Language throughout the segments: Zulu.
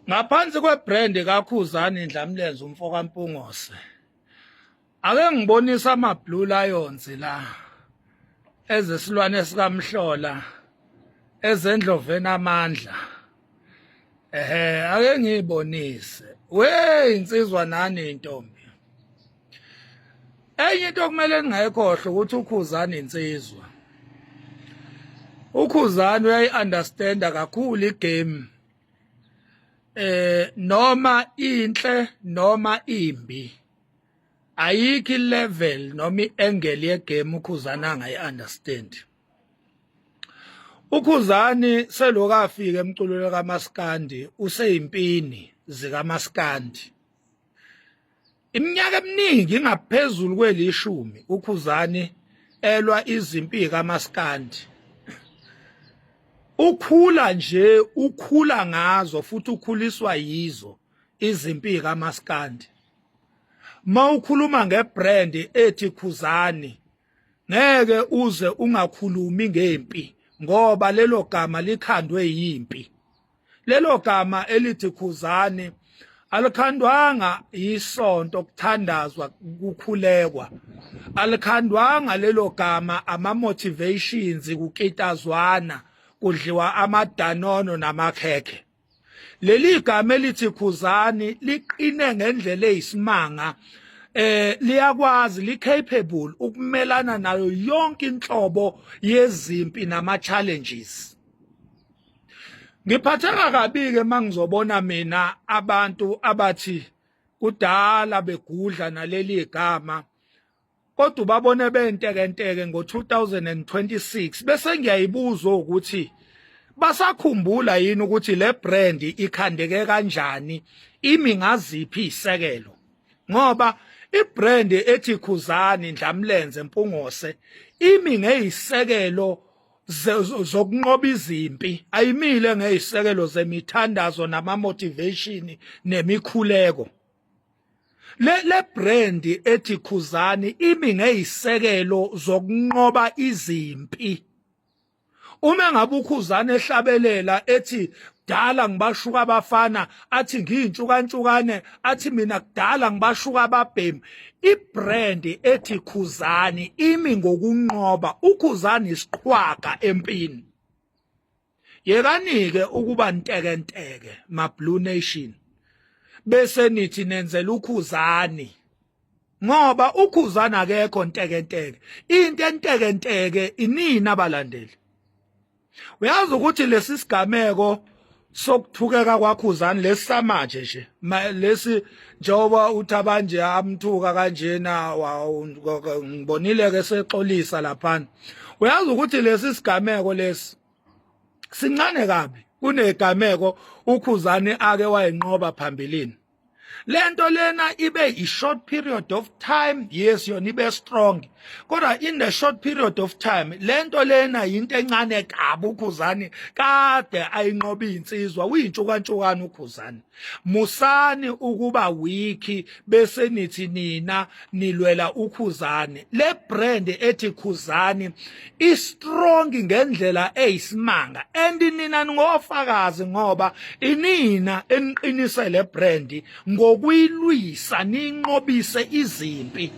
Ngaphansi kwebrand kaKhuzani Ndlamlenze umfo kaMpungose. Ake ngibonisa ama Blue Lions la ezesilwane sikamhlola ezendloveni amandla. Ehhe ake ngibonise. Wey insizwa nani intombi. Enye into okumele ningayikhohle ukuthi uKhuzani insizwa. ukhuzani uyayi-understanda kakhulu igame eh noma inhle noma imbi ayikho ilevel noma iangle yegame ukhuzana ngayi understand ukhuzani selokafika emculweni kamaskandi useyimpini zikamaskandi Iminyaka eminingi ingaphezulu kwelishumi uKhuzani elwa izimpi kaMaskandi. Ukhula nje ukhula ngazo futhi ukhuliswa yizo izimpi kaMaskandi. Mawukhuluma ngebrand ethi Khuzani ngeke uze ungakhulumi ngempi ngoba lelo gama likhandwe yimpi. Lelo gama elithi khuzani alikhandwanga yisonto kuthandazwa kukhulekwa alikhandwanga lelo gama ama motivations kukitazwana kudliwa amadanono namakhekhe leli gama elithi khuzani liqine ngendlela eyisimanga eh liyakwazi li capable ukumelana nayo yonke inhlobo yezimpi nama challenges ngiphatheka kabi ke mangizobona mina abantu abathi kudala begudla naleli igama kodwa babone bentekenteke ngo2026 bese ngiyayibuza ukuthi basakhumbula yini ukuthi le brand ikhandeke kanjani imi ngaziphi isekelo ngoba ibrand ethi khuzani ndlamlenze mpungose imi ngeyisekelo zokunqoba izimpi ayimile ngezisekelo zemithandazo nama motivation nemikhuleko le le brand ethi khuzani imi ngezisekelo zokunqoba izimpi uma ngabe ukhuzani ehlabelela ethi kudala ngibashuka abafana athi ngiyintshukantshukane athi mina kudala ngibashuka ababhemu ibrand ethi khuzani imi ngokunqoba ukhuzani isiqhwaga empini yekanike ukuba ntekenteke ma blue nation bese nithi nenzela ukhuzani ngoba ukhuzani akekho ntekenteke into entekenteke inini abalandeli uyazi ukuthi lesi sigameko sokuthukeka kwakhuzani lesamanje nje lesi njengoba uthi abanje amthuka kanjena ngibonile ke sexolisa laphana uyazi ukuthi lesi sigameko lesi sincane kabi kunegameko ukhuzani ake wayenqoba phambilini lento lena ibe i-short period of time yes yona ibe strong kodwa in the short period of time lento lena yinto encane kabi ukhuzani kade ayinqoba insizwa uyintshukantshukaana ukhuzani musani ukuba wiki bese nithi nina nilwela ukhuzane le brand ethi khuzani i strong ngendlela eyisimanga and nina ngofakazi ngoba inina eniqinise le brand ngokuyilwisa ninqobise izimpi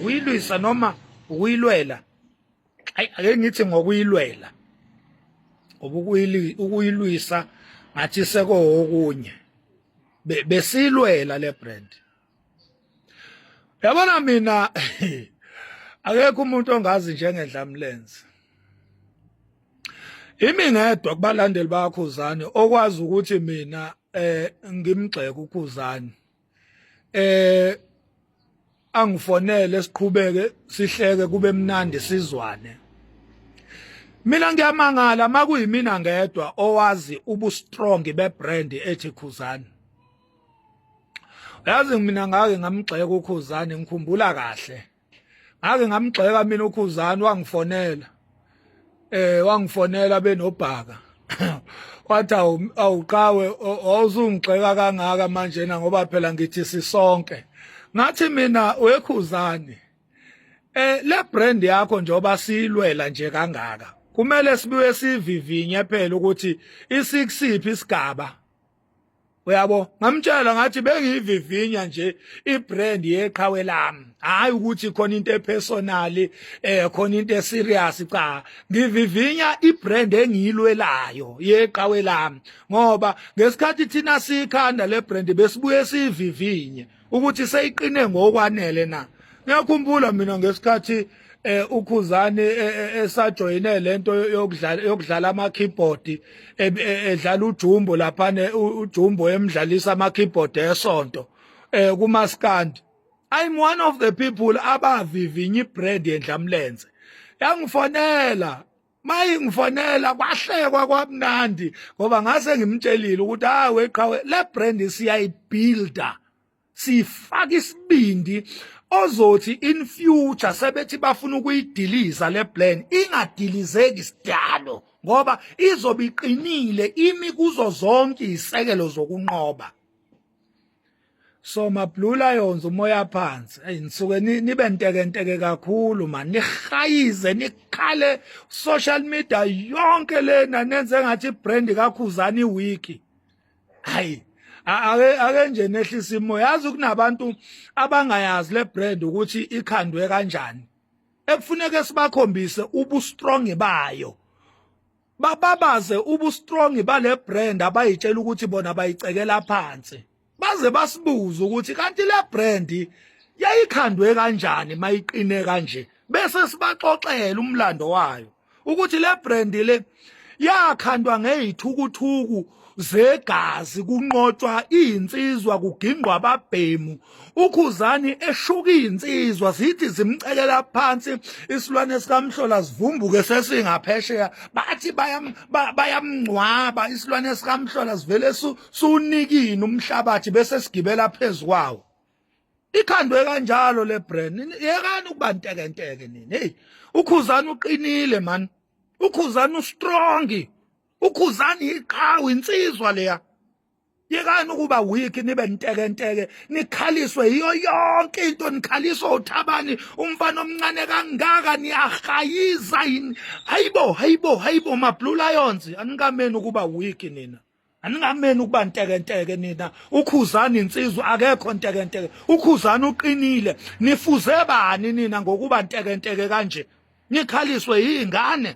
uyilwisa noma uyilwela ayi ake ngithi ngokuyilwela ukuyilwisa ngathi seko okunye besilwela le brand yabona mina akekho umuntu ongazi njengendlamlenze imi ngedwa kubalandeli bakhuzani okwazi ukuthi mina eh ngimgxeka ukhuzani eh angifonele siqhubeke sihleke kube mnandi sizwane mina ngiyamangala makuyimina ngedwa owazi ubu strong be brand ethi khuzani yazi mina ngake ngamgxeka ukhuzane ngikhumbula kahle ngake ngamgxeka mina ukhuzane wangifonela eh wangifonela benobhaka wathi awuqawe awuzungixeka kangaka manje na ngoba phela ngithi sisonke ngathi mina wekhuzane eh le brand yakho njoba silwela nje kangaka kumele sibuye sivivinye phela ukuthi isikusiphi isigaba uyabo ngamtshela ngathi bengiyivivinya nje ibrand yeqhawe lami hayi ukuthi khona into epersonal eh khona into eserious cha ngivivinya ibrand engiyilwelayo yeqhawe lami ngoba ngesikhathi thina sikhanda lebrand besibuye sivivinye ukuthi seyiqine ngokwanele na ngiyakhumbula mina ngesikhathi eh ukhuzani e, e, esajoyine lento yokudlala yokudlala ama keyboard e, edlala ujumbo lapha ne ujumbo emdlalisa ama keyboard esonto eh kuma stand i'm one of the people abavivinya ibrand yendlamlenze yangifonela mayingifonela kwahlekwa kwamnandi ngoba ngase ngimtshelile ukuthi hayi weqhawe le brand siyayibuilder sifaka isibindi ozothi in future sebethi bafuna ukuyidiliza le plan ingadilizeki sidalo ngoba izobe iqinile imi kuzo zonke izisekelo zokunqoba so mablue lions umoya phansi hey nisuke nibe ntekenteke kakhulu mani nihayize nikhale social media yonke lena nenze ngathi brand kakhuzani wiki hayi ake ake nje nehlisa imoya yazi kunabantu abangayazi le brand ukuthi ikhandwe kanjani ekufuneka sibakhombise ubu strong bayo bababaze ubustrong bale brand abayitshela ukuthi bona bayicekela phansi baze basibuze ukuthi kanti le brand yayikhandwe kanjani mayiqine kanje bese sibaxoxela umlando wayo ukuthi le brand le yakhandwa ngeyithukuthuku zegazi kunqotshwa izinsizwa kugingqwa ababhemu ukhuzani eshuka izinsizwa zithi zimcekela phansi isilwane sikamhlola sivumbuke sesingaphesheya bathi bayamngcwaba isilwane sikamhlola sivele sunikini umhlabathi bese sigibela phezu kwawo ikhandwe kanjalo le brand yekani ukuba ntekenteke nini hey ukhuzani uqinile man ukhuzani ustrong ukhuzani iqhawe insizwa leya yekani ukuba weak nibe nteke nteke nikhaliswe yiyo yonke into nikhaliswa uthabani umfana omncane kangaka niyahayiza yini hayibo hayibo hayibo mablue lions anikameni ukuba weak nina aningameni ukuba ntekenteke nina ukhuzani insizwa akekho ntekenteke ukhuzani uqinile nifuze bani nina ngokuba ntekenteke kanje nikhaliswe yingane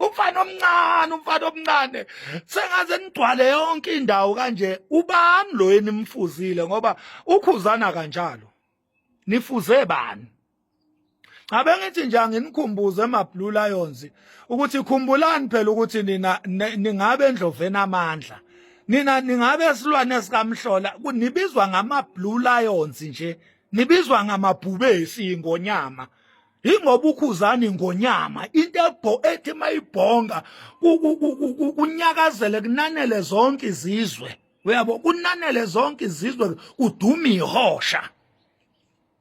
umfana omncane umfana omncane sengaze nigcwale yonke indawo kanje ubani lo enimfuzile ngoba ukhuzana kanjalo nifuze bani Ngabe ngithi nje anginikhumbuze amaBlue Lions ukuthi khumbulani phela ukuthi nina ningabe endloveni amandla. Nina ningabe silwane sikamhlola kunibizwa ngamaBlue Lions nje. Nibizwa ngamabhubesi ingonyama. ingoba ukhuzani ngonyama into ebho ethi mayibhonga kunyakazele kunanele zonke izizwe uyabo kunanele zonke izizwe kudume ihosha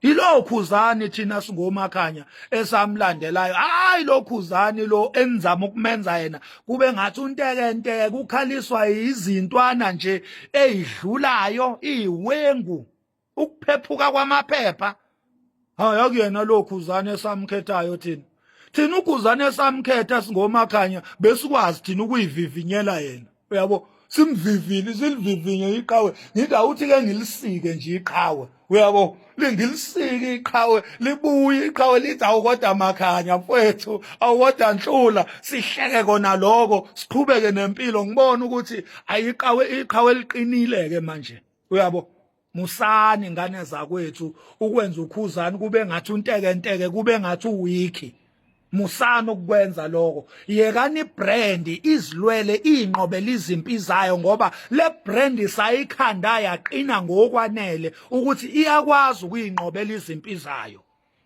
ilokhuzani thina singomakhanya esamlandelayo hayi lokhuzani lo enizama ukumenza yena kube ngathi untekenteke kukhaliswa izintwana nje ezidlulayo iwengu ukuphephuka kwamaphepha hayi akuyena lo khuzane esamkhethayo thina thina ukhuzane esamkhetha singomakhanya besikwazi thina ukuyivivinyela yena uyabo simvivile silivivinye iqhawe ngithi awuthi ke ngilisike nje iqhawe uyabo lingilisike iqhawe libuye iqhawe lithi awukodwa makhanya mfowethu awukodwa nhlula sihleke kona lokho siqhubeke nempilo ngibona ukuthi ayiqhawe iqhawe liqinile ke manje uyabo musani ngane zakwethu ukwenza ukhuzani kube ngathi untekenteke kube ngathi uwiki musana ukwenza lokho yekani brand izilwele inqobela izimpi zayo ngoba le brand isayikhanda yaqina ngokwanele ukuthi iyakwazi ukuyinqobela izimpi zayo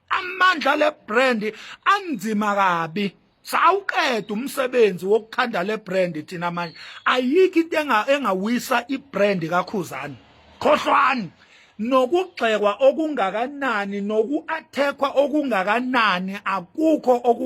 amandla le brand anzima kabi sawuqeda umsebenzi wokukhanda le brand thina manje ayikho into engawisa i brand kakhuzani khohlwani nokugxekwa okungakanani nokuathekwa okungakanani akukho oku